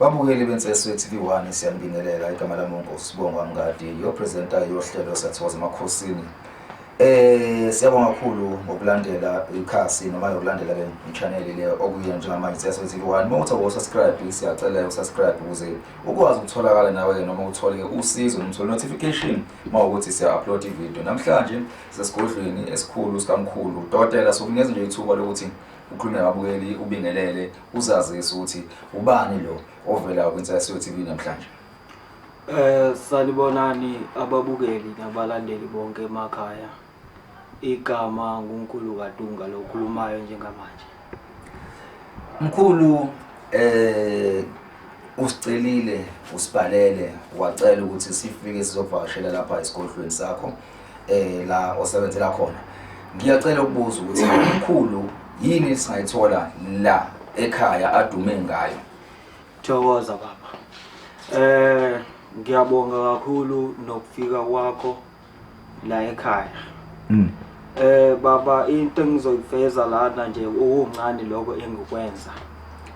Babukeli beNtseswe TV 1 siyanibingelela igama lami uNkosibonga Mngadi yo presenter yohlelo sathokoza emakhosini Eh siyabonga kakhulu ngokulandela ikhasi noma yokulandela le channel le okuye njengamanje siyasho ukuthi one uma uthi ukusubscribe siyacela usubscribe ukuze ukwazi ukutholakala nawe ke noma uthole usizo noma uthole notification uma ukuthi siya upload ivideo namhlanje sesigodlweni esikhulu sikamkhulu dotela sokunikeza nje ithuba lokuthi ukhulume nababukeli ubingelele uzazise ukuthi ubani lo ovelayo kwiNsasiyo TV namhlanje. Eh sanibonani ababukeli nabalandeli bonke emakhaya. Igama nguNkulu kaDunga lokhulumayo njengamanje. Mkhulu eh usicelile usibhalele wacela ukuthi sifike sizovakashela lapha esigodlweni sakho eh la osebenzela khona ngiyacela ukubuza ukuthi umkhulu yini esingayithola la ekhaya adume ngayo thokoza baba eh ngiyabonga kakhulu nokufika kwakho la ekhaya mm. eh baba into engizoyifeza lana nje okuncane lokho engikwenza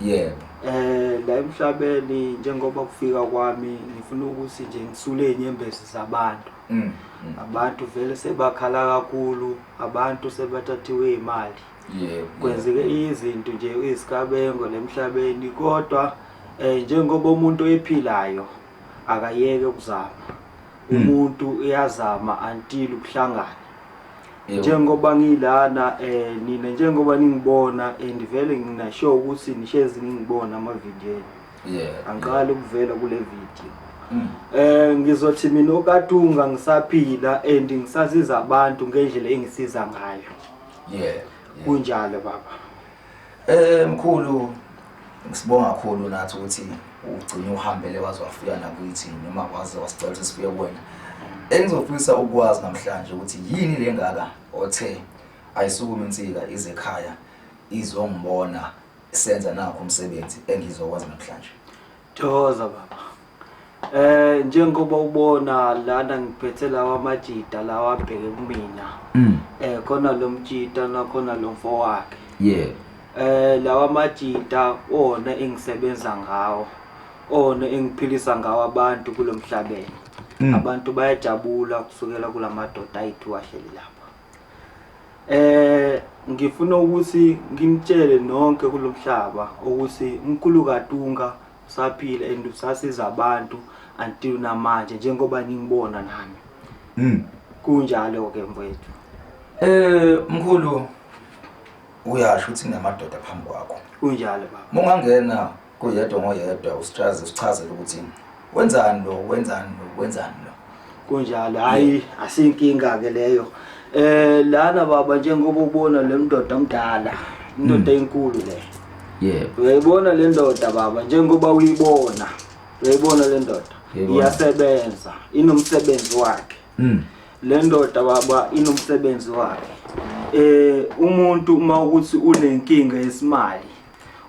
yebo eh la emhlabeni njengoba kufika kwami ngifuna ukuthi nje ngisule inyembezi zabantu mm, mm. abantu vele sebakhala kakhulu abantu sebathathiwe imali yeah, kwenzeke yeah. izinto nje izikabengo lemhlabeni kodwa eh njengoba umuntu ephilayo akayeke ukuzama mm. umuntu uyazama until ukuhlangana njengoba ngilana eh nina njengoba ningibona and vele ngina sure ukuthi nishezi ningibona ama video yeah angiqali ukuvela kule video mm. eh ngizothi mina okatunga ngisaphila and ngisaziza abantu ngendlela engisiza ngayo yeah kunjalo baba eh mkhulu ngisibonga kakhulu nathi ukuthi ugcine uhambele waze wafika nakuyithi noma waze wasicela ukuthi sibuye kuwena engizofisa ukwazi namhlanje ukuthi yini lengaka othe ayisukume insika izekhaya izongibona senza nakho umsebenzi engizokwazi namhlanje thokoza baba eh njengoba ubona lana ngiphethe lawa majita lawa abheke kumina mm. eh khona lo mjita nakhona lo mfo wakhe yeah eh lawa majita ona engisebenza ngawo ona engiphilisa ngawo abantu kulomhlabeni mm. abantu bayajabula kusukela kulamadoda ayithu wahleli lapha Eh ngifuna ukuthi nginitshele nonke kulomhlaba ukuthi umkhulu kaTunga usaphila and usasiza abantu until namanje njengoba ningibona nami. Mm. Kunjalo ke mfowethu. Eh mkhulu uyasho ukuthi namadoda phambi kwakho. Kunjalo baba. Mungangena Kuyedwa ngoyedwa uStrazi usichazela ukuthi wenzani lo wenzani lo wenzani lo. Kunjalo hayi asinkinga ke leyo. Eh lana baba njengoba ubona le mndoda omdala indoda hmm. enkulu le. Yebo. Uyayibona le ndoda baba njengoba uyibona. Uyayibona le ndoda. Iyasebenza inomsebenzi wakhe. Mm. Le ndoda baba inomsebenzi wakhe. eh umuntu uma ukuthi unenkinga yesimali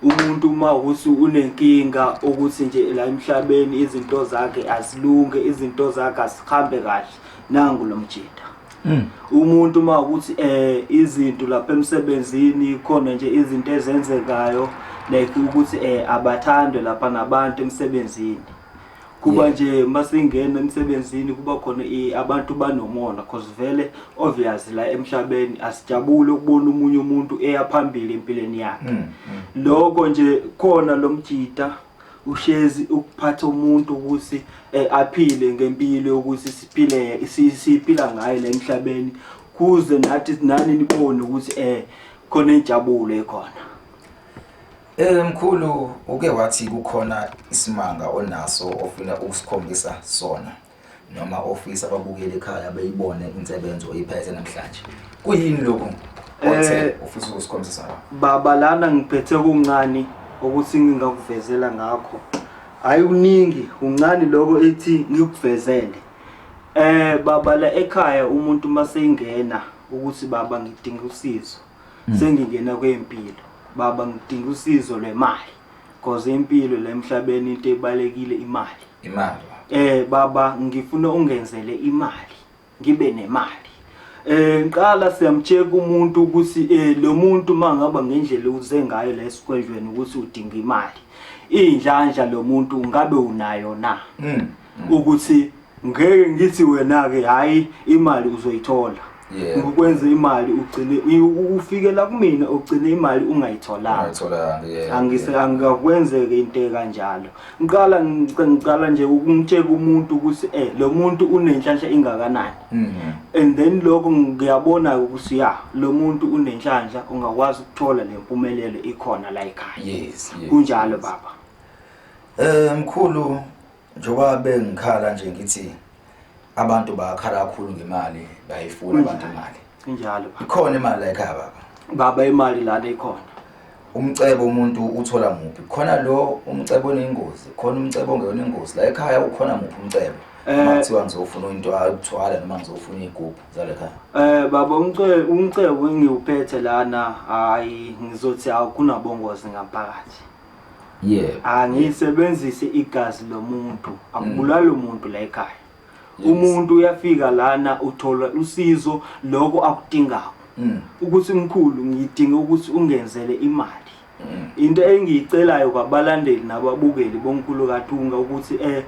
umuntu uma uthi unenkinga ukuthi nje la emhlabeni izinto zakhe azilunge izinto zakhe azihambe kahle nangu lo mjita hmm. umuntu uma ukuthi eh izinto lapha emsebenzini khona nje izinto ezenzekayo like ukuthi eh abathandwe lapha nabantu emsebenzini kuba yeah. nje masingena emsebenzini kuba khona abantu banomona cause vele obvious la emhlabeni asijabule ukubona umunye umuntu eya phambili empilweni yakhe mm, mm. lokho nje khona lo mjita ushezi ukuphatha umuntu ukuthi eh, aphile ngempilo yokuthi siphile siphila ngayo la emhlabeni kuze nathi nani nibone ukuthi eh khona injabulo ekhona Eh mkhulu uke wathi kukhona isimanga onaso ofuna ukusikhombisa sona noma ofisa ababukeli ekhaya beyibone insebenzo oyiphethe namhlanje. Kuyini lokhu? Othe Eh. ufisa ukusikhombisa sona. baba lana ngiphethe kuncane ukuthi ngingakuvezela ngakho hayi kuningi kuncane lokho ethi ngikuvezele eh baba la ekhaya umuntu maseyingena ukuthi baba ngidinga usizo Mm. sengingena kwempilo baba ngidinga usizo lwemali because impilo la emhlabeni into ebalekile imali imali eh baba ngifuna ungenzele imali ngibe nemali eh ngiqala siyamcheck umuntu ukuthi eh lo muntu mangaba ngendlela uze ngayo la esikwendlweni ukuthi udinga imali indlandla lo muntu ngabe unayo na mm. ukuthi ngeke ngithi wena ke hayi imali uzoyithola Yeah. ngikwenze imali ugcine u- ufike la kumina ugcine imali ungayitholanga Ayitholanga, yeah, angise yeah. angakwenzeke into ekanjalo ngiqala ngic- ngiqala nje ukungitsheka umuntu ukuthi eh lo muntu unenhlanhla ingakanani Mhm. and then lokho ngiyabona ukuthi ya lo muntu unenhlanhla ungakwazi ukuthola le mpumelelo ikhona la ekhaya Yes, yes, kunjalo yes. baba Eh mkhulu njoba bengikhala nje ngithi abantu bakhala kakhulu ngemali bayifuna abantu imali. Injalo. Ikhona imali la ekhaya baba. Baba imali lana ikhona. Umcebo umuntu uthola muphi? Khona lo umcebo onengozi, khona umcebo ongeyona ingozi. La ekhaya ukhona muphi umcebo? Eh. Uma kuthiwa ngizofuna into akuthwala noma ngizofuna igubhu zale khaya. Eh baba umcebo umcebo engiwuphethe lana hayi ngizothi akunabongozi ngaphakathi. yeah angisebenzise igazi lomuntu akubulali umuntu la ekhaya Yes. umuntu uyafika lana uthola usizo lokho akudingayo Mm. ukuthi mkhulu ngidinga ukuthi ungenzele imali Mm. into engiyicelayo kwabalandeli nababukeli bonkulu kathunga ukuthi eh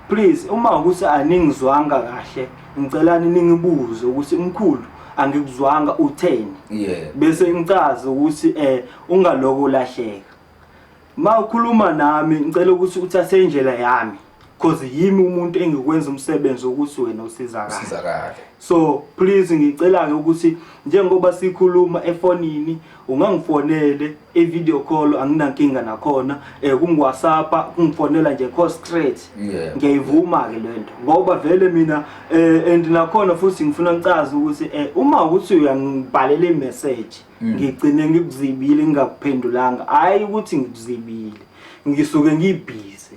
please uma ukuthi aningizwanga kahle ngicela ningibuze ukuthi mkhulu angikuzwanga utheni yeah bese ngicaza ukuthi eh Ungaloko ulahleka. Ma ukhuluma nami ngicela ukuthi uthathe indlela yami cause yimi umuntu engikwenza umsebenzi ukuthi wena usizakale. Usizakale. So please ngicela ke ukuthi njengoba sikhuluma efonini ungangifonele e video call anginankinga nakhona eh kungu WhatsApp kungifonela nje call straight. Yeah. Ngiyayivuma ke lento ngoba vele mina eh and nakhona futhi ngifuna ngicaze ukuthi eh uma ukuthi uyangibhalela i message Mm. ngigcine ngikuzibile ngingakuphendulanga hhayi ukuthi ngikuzibile ngisuke ngibhizi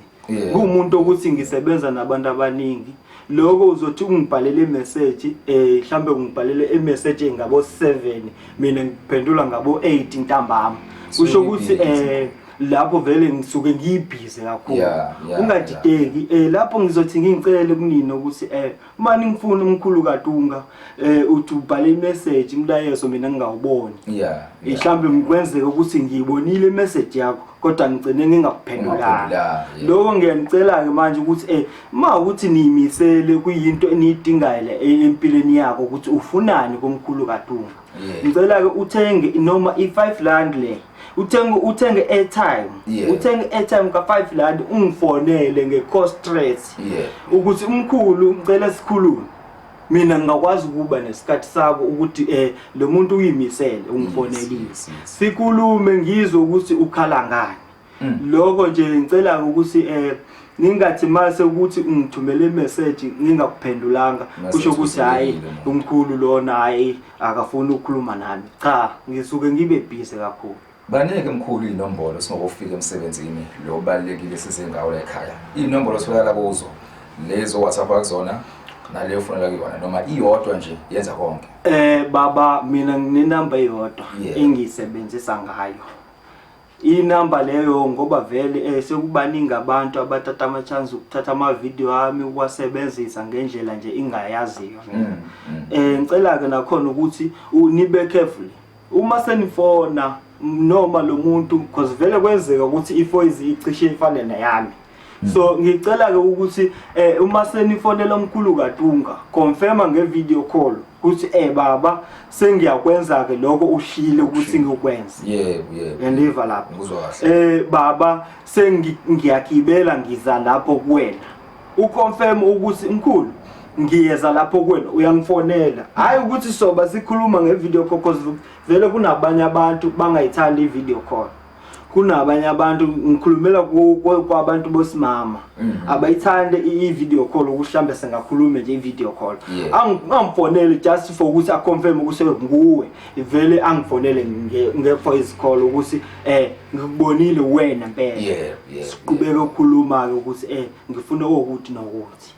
kuwumuntu ukuthi ngisebenza nabantu abaningi lokho uzothi ungibhalele imeseji um eh, mhlawumbe ungibhalele imeseji engabo-seven mina ngiphendula ngabo-eight ntambama kusho ukuthi um lapho vele ngisuke ngiyibhize kakhulu ungadideki um lapho ngizothi ngingicele kunini ukuthi um uma ningifuna umkhulu katunga eh uthi ubhale imessage imlayezo mina ngingawuboni yeah mhlambe ngikwenzeka ukuthi ngiyibonile imessage yakho kodwa ngicene ngingakuphendulanga lokho ngiyanicela ke manje ukuthi eh uma ukuthi niyimisele kuyinto eniyidingayo empilweni yakho ukuthi ufunani komkhulu katunga ngicela ke uthenge noma i-5 rand le uthenge uthenge airtime yeah. uthenge airtime ka 5 rand ungifonele nge cost stress yeah. ukuthi umkhulu ngicela sikhulume mina ngingakwazi ukuba nesikhathi sako ukuthi eh lo muntu uyimisele ungifonelile sikhulume ngizwe ukuthi ukhala ngani mm. lokho nje ngicela ukuthi eh ningathi mase ukuthi ungithumele imessage ngingakuphendulanga kusho ukuthi hayi umkhulu lona hayi akafuni ukukhuluma nami cha ngisuke ngibe busy kakhulu banike mkhulu inombolo singokufika emsebenzini lo balekile size ngawo la ekhaya inombolo sifakala kuzo lezo WhatsApp akuzona naleyo ufunela kuyona noma iyodwa nje yenza konke eh baba mina nginenamba eyodwa engiyisebenzisa ngayo Inamba leyo ngoba vele eh, sekubaningi abantu abathatha ama-chance ukuthatha ama-video ami ukuwasebenzisa ngendlela nje ingayaziyo mm, mm. eh ngicela-ke nakhona ukuthi nibe careful uma senifona noma lo muntu because vele kwenzeka ukuthi ifoyizi icishe ifane neyami so ngicela-ke ukuthi um uma senifonela omkhulu katunga confirma nge-video call ukuthi um baba sengiyakwenza-ke lokho ushile ukuthi ngikwenze yandiva lapho um baba sengiyagibela ngiza lapho kuwena uconfirm ukuthi mkhulu ngiyeza lapho kuwena uyangifonela hhayi ukuthi soba sikhuluma nge-video call cause vele kunabanye abantu bangayithandi i-video call kunabanye abantu ngikhulumela kwabantu bosimama mm. abayithande i-video call ukuthi mhlawumbe sengakhulume nje i-video call angifonele just for ukuthi aconfirm ukuthi nguwe vele angifonele nge-voice call ukuthi um ngikubonile wena mpela siqubeke ukukhuluma-ke ukuthi um ngifuna okuthi nokuthi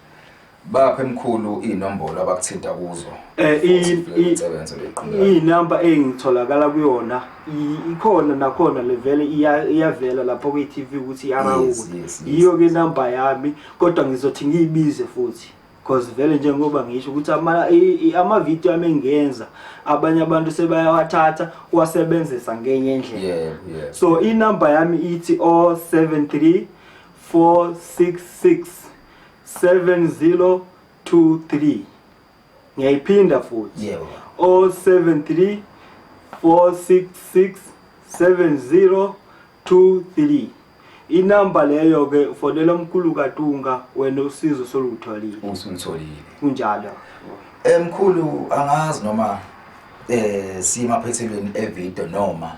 Baphe mkhulu inombolo abakuthinta kuzo. Eh isebenza leqhinga. Inamba engitholakala kuyona ikhona nakhona levele iyavela lapho kwi TV ukuthi iyarawuka. Yiyo ke number yami kodwa ngizothi ngiyibize futhi. Cause vele njengoba ngisho ukuthi ama ama video ami engenza abanye abantu sebayawathatha wasebenzisa ngenye indlela. Yeah, yeah. So inamba yami ithi 073 466 7023 ngiyayiphinda futhi Yebo. 073 466 7023 inamba leyo ke ufonela umkhulu kaTunga wena usizo solutholile usulitholile kunjalo Eh mkhulu angazi noma eh sima phethelweni evideo noma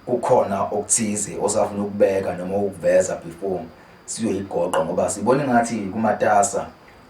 Kukhona okuthize osafuna ukubeka noma ukuveza before siyoyigoqa ngoba sibona ngathi kumatasa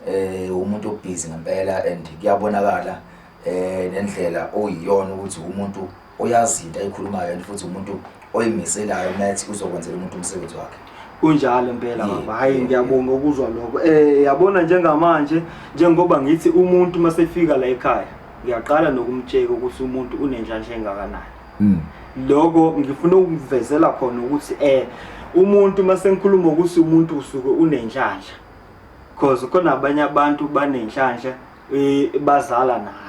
eh umuntu obhizi ngempela and kuyabonakala eh nendlela oyiyona ukuthi umuntu oyazi into ayikhulumayo and futhi umuntu oyimiselayo mathi uzokwenzela umuntu umsebenzi wakhe kunjalo impela baba hayi ngiyabonga ukuzwa lokho eh yabona njengamanje njengoba ngithi umuntu masefika la ekhaya ngiyaqala nokumtsheka ukuthi umuntu unenhlanhla engakanani mm. loko ngifuna ukuvezela khona ukuthi eh umuntu masengikhuluma ukuthi umuntu usuke unenhlanhla because khona abanye abantu banenhlanhla eh, bazala nayo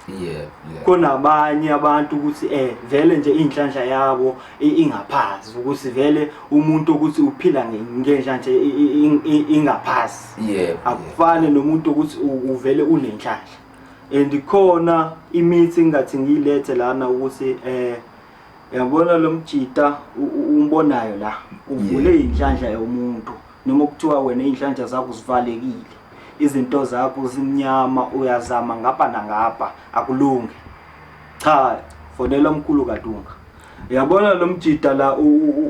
yeah, yeah. kunabanye abantu ukuthi eh vele nje inhlanhla yabo ingaphazi ukuthi vele umuntu ukuthi uphila ngenhlanhla ingaphazi yeah, akufane yeah. nomuntu ukuthi uvele unenhlanhla and khona imithi engathi ngiyilethe lana ukuthi eh yabona lo mjita umbonayo la uvule inhlanhla yomuntu noma kuthiwa wena inhlanhla zakho zivalekile izinto zakho zimnyama uyazama ngapha nangapha akulungi cha fonela umkhulu kadunga yabona lo mjita la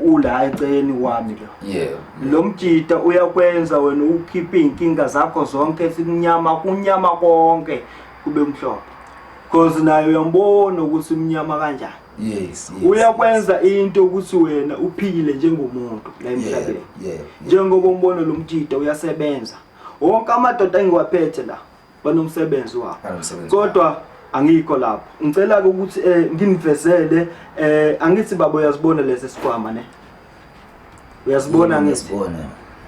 ula eceleni kwami la yeah lo mjita uyakwenza wena ukhiphe inkinga zakho zonke sinyama kunyama konke kube mhlophe because naye uyambona ukuthi umnyama kanjani yes, yes uyakwenza yes. into ukuthi wena uphile njengomuntu la emhlabeni yeah, yeah, njengoba umbona lo mjita uyasebenza wonke amadoda engiwaphethe la banomsebenzi wabo Banomsebenzi wabo. kodwa angikho lapho ngicela-ke ukuthi um nginivezele um angithi baba uyazibona lesi sikhwama ne uyasibona Yebo, ngithi ngiyasibona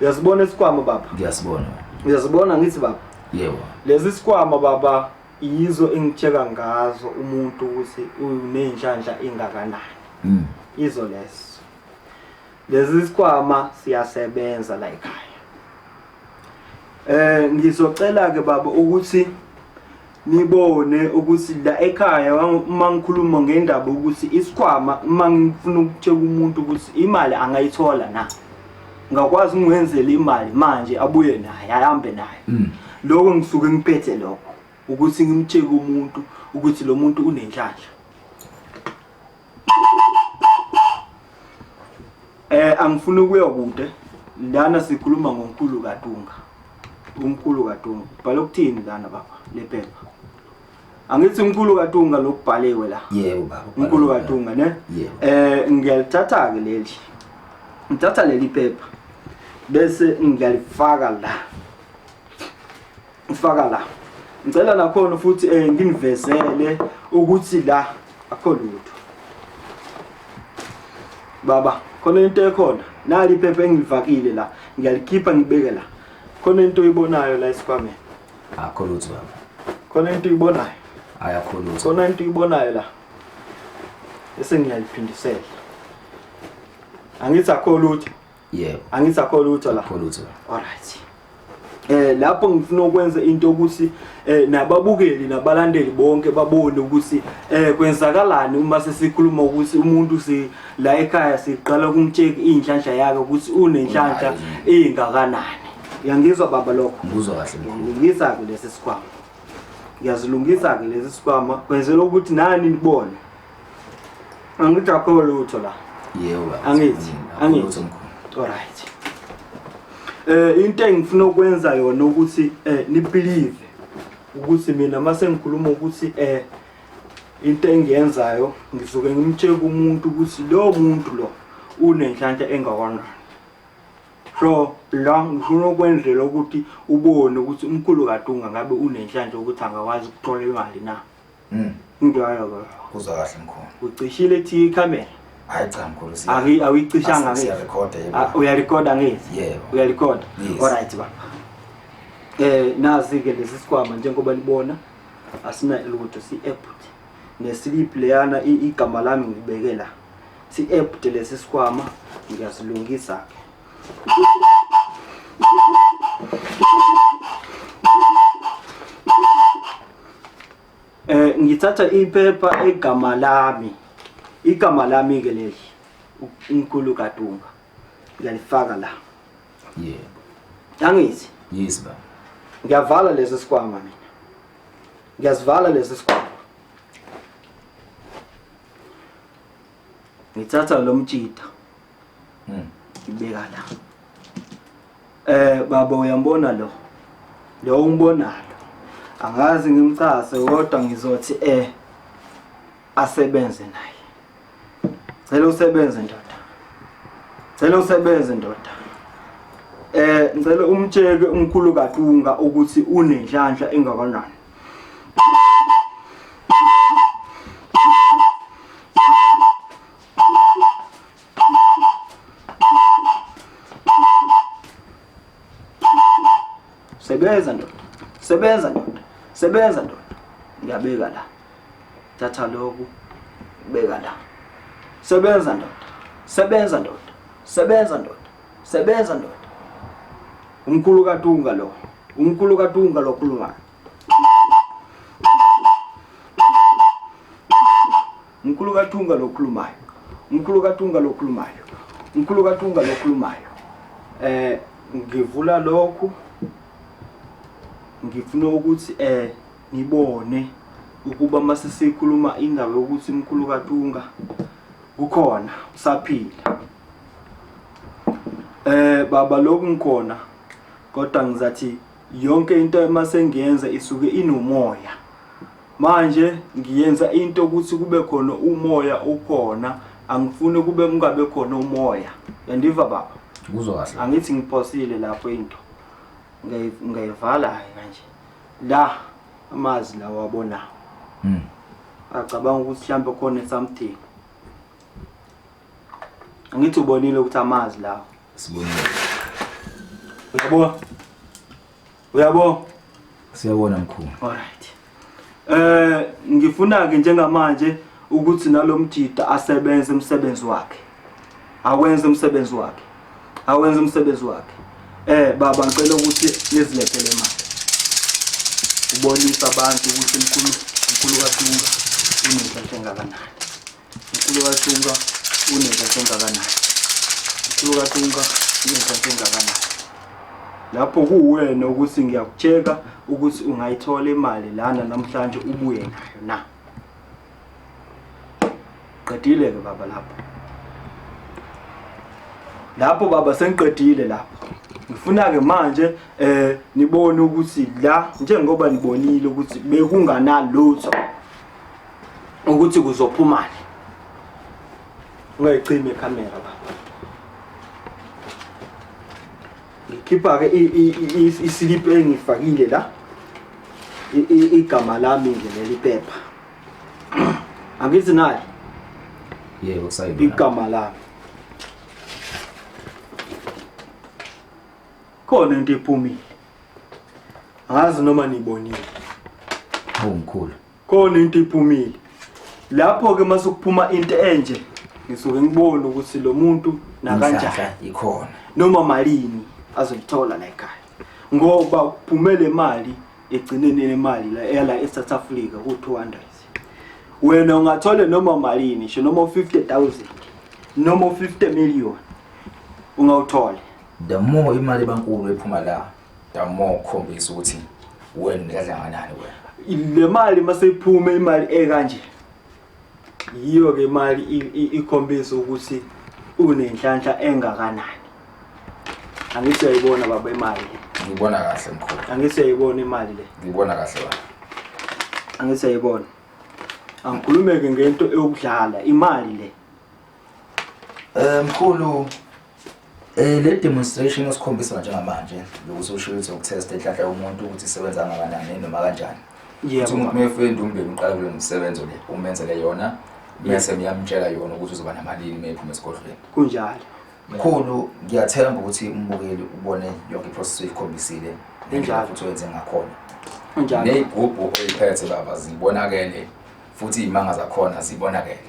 uyasibona isikhwama baba ngiyasibona uyasibona ngithi baba yebo lezi sikhwama baba yizo engitsheka ngazo umuntu ukuthi unenhlanhla engakanani Mm. izo lezo Lezi sikhwama siyasebenza la ekhaya. Eh ngizocela ke baba ukuthi nibone ukuthi la ekhaya uma ngikhuluma ngendaba ukuthi isikhwama uma ngifuna ukutshela umuntu ukuthi imali angayithola na ngakwazi ngwenzele imali manje abuye naye ahambe naye mm. lokho ngisuke ngiphethe lokho ukuthi ngimtsheke umuntu ukuthi lo muntu unenhlanhla Eh angifuni ukuya kude. Lana sikhuluma ngonkulu kaDunga. Unkulu kaDunga. Bhala ukuthini lana baba lephepha. Angithi unkulu kaDunga lokubhaliwe la. Yebo baba. Unkulu kaDunga ne? Eh ngiyalithatha ke leli. Ngithatha leli phepha bese ngiyalifaka la. Ngifaka la. Ngicela nakhona futhi eh nginivezele ukuthi la akho lutho. Baba, khona into ekhona. Nali iphepha engilivakile la. Ngiyalikhipha ngibeke la. Khona into oyibonayo la esikwameni. Akho lutho baba. Khona into oyibonayo. Ayakho lutho. Khona into oyibonayo la. Bese ngiyaliphindisela. Angithi akho lutho. yebo angithi akho lutho la akho lutho alright eh lapho ngifuna ukwenza into ukuthi eh nababukeli nabalandeli bonke babone ukuthi eh kwenzakalani uma sesikhuluma ukuthi umuntu si la ekhaya siqala ukumtsheka inhlanhla yakhe ukuthi unenhlanhla engakanani uyangizwa baba lokho ngizwa kahle ngiyisa ke lesi sikhwama ngiyazilungisa ke lesi sikhwama kwenzela ukuthi nani nibone angithi akho lutho la yebo angithi angithi alright eh into engifuna ukwenza yona ukuthi eh nibelieve ukuthi mina mase ngikhuluma ukuthi eh into engiyenzayo ngisuke ngimtsheke umuntu ukuthi lo muntu lo unenhlanhla engakanani so la ngifuna ukwenzela ukuthi ubone ukuthi umkhulu kadunga ngabe unenhlanhla ukuthi angakwazi ukuthola imali na Mm. Ngidwaya ba. Kuzwa kahle mkhulu. Ucishile thi camera. Hayi cha mkhulu siya. Angi awicishanga ngithi. Siya record yebo. Ah, uya record angithi. Yebo. Uya record. All right ba. Eh nazi ke lesi sikwama njengoba libona asina lutho si app nesilip leyana igama lami ngibekela si app lesi sikwama ngiyasilungisa ke. Eh ngithatha iphepha egama lami. Igama lami ke leli. Unkulu kaDumba. Ngiyalifaka la. Yebo. Angithi? Yes baba. Ngiyavala lesi sikwama mina. Ngiyasivala lesi sikwama. Ngithatha lo mtshita. Mm. Ibeka la. Eh baba uyambona lo. Lo umbonalo. Angazi ngimcase kodwa ngizothi eh asebenze naye. Cela usebenze ndoda. Cela usebenze ndoda. Eh ngicela umtsheke umkhulu kaQunga ukuthi unenhlanhla engakanani. Sebenza ndoda. Sebenza ndoda. Sebenza ndoda. Ngiyabeka la. Thatha lokhu. Beka la. Sebenza ndoda. Sebenza ndoda. Sebenza ndoda. Sebenza ndoda. Umkhulu kaTunga lo. Umkhulu kaTunga lo khuluma. Mkhulu kaThunga lokhulumayo. Mkhulu kaThunga lokhulumayo. Mkhulu kaThunga lokhulumayo. Eh ngivula lokhu ngifuna ukuthi eh ngibone ukuba mase sikhuluma indaba yokuthi mkhulu kaThunga ukhona usaphila. Eh baba lokhu ngikhona kodwa ngizathi yonke into uma sengiyenza isuke inomoya manje ngiyenza into ukuthi kube khona umoya ukhona angifuni kube kungabe khona umoya yandiva baba kuzwa kahle angithi ngiphosile lapho into ngayivala kanje la amazi lawa abonayo mm. acabanga ukuthi mhlawumbe khona something angithi ubonile ukuthi amazi lawo Sibonile. Uyabo? Uyabo? Siyabona mkhulu. Alright. Eh ngifuna ke njengamanje ukuthi nalomjida asebenze umsebenzi wakhe. Awenze umsebenzi wakhe. Awenze umsebenzi wakhe. Eh baba ngicela ukuthi nizilethele imali. Ubonisa abantu ukuthi mkhulu mkhulu kaThunga unenhlanhla engakanani. Mkhulu kaTunga unenhlanhla engakanani? Mkhulu kaTunga unenhlanhla engakanani? Lapho kuwena ukuthi ngiyakutsheka ukuthi ungayithola imali lana namhlanje ubuye nayo na? Qedile-ke baba lapho. Lapho baba sengiqedile lapho. Ngifuna-ke manje eh nibone ukuthi la njengoba nibonile ukuthi bekunganalutho ukuthi kuzophumani ungayicimi ikhamera baba ngikhipha-ke isiliphu engifakile la igama lami nje leli phepha angithi naye yebo sayiba igama lami khona into ephumile angazi noma nibonile awu mkhulu khona into iphumile lapho-ke uma sekuphuma into enje ngisuke ngibone ukuthi lo muntu nakanjani ikhona noma malini azoyithola la ekhaya ngoba kuphumele imali egcineni lemali la ela eSouth Africa ku200 wena ungathole noma malini ngisho noma 50000 noma 50 million ungawuthole the more imali bankulu ephuma la The more khombisa ukuthi wena umdladla kanani wena. Le mali maseyiphume imali ekanje. Yiyo ke imali ikhombisa ukuthi unenhlanhla engakanani. Angithi uyayibona baba imali le. Ngibona kahle mkhulu. Angithi uyayibona imali le. Ngibona kahle baba. Angithi uyayibona. Angikhulumeke ngento eyokudlala imali le. Eh mkhulu Eh le demonstration osikhombisa manje ngamanje lokuthi usho ukuthi ukutesta inhlanhla yomuntu ukuthi isebenza ngakanani noma kanjani. Yebo. Umuntu mefunda umbeni uqala kulo msebenzo le umenzele yona bese ngiyamtshela yona ukuthi uzoba namalini mephuma esigodlweni. Kunjalo. Mkhulu ngiyathemba ukuthi umbukeli ubone yonke iprocess oyikhombisile ngendlela futhi wenze ngakhona. Kunjalo. Nezigubhu oyiphethe baba zibonakele futhi imanga zakhona zibonakele.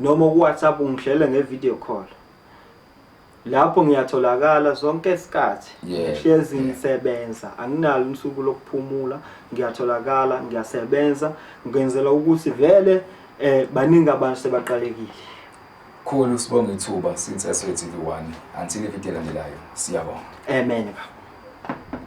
noma ku WhatsApp ungihlele nge video call lapho ngiyatholakala zonke isikhathi ngihlezi ngisebenza anginalo usuku lokuphumula ngiyatholakala ngiyasebenza ngenzela ukuthi vele eh baningi abantu sebaqalekile khulu sibonga ithuba since SWTV1 until ivideo elandelayo siyabonga amen baba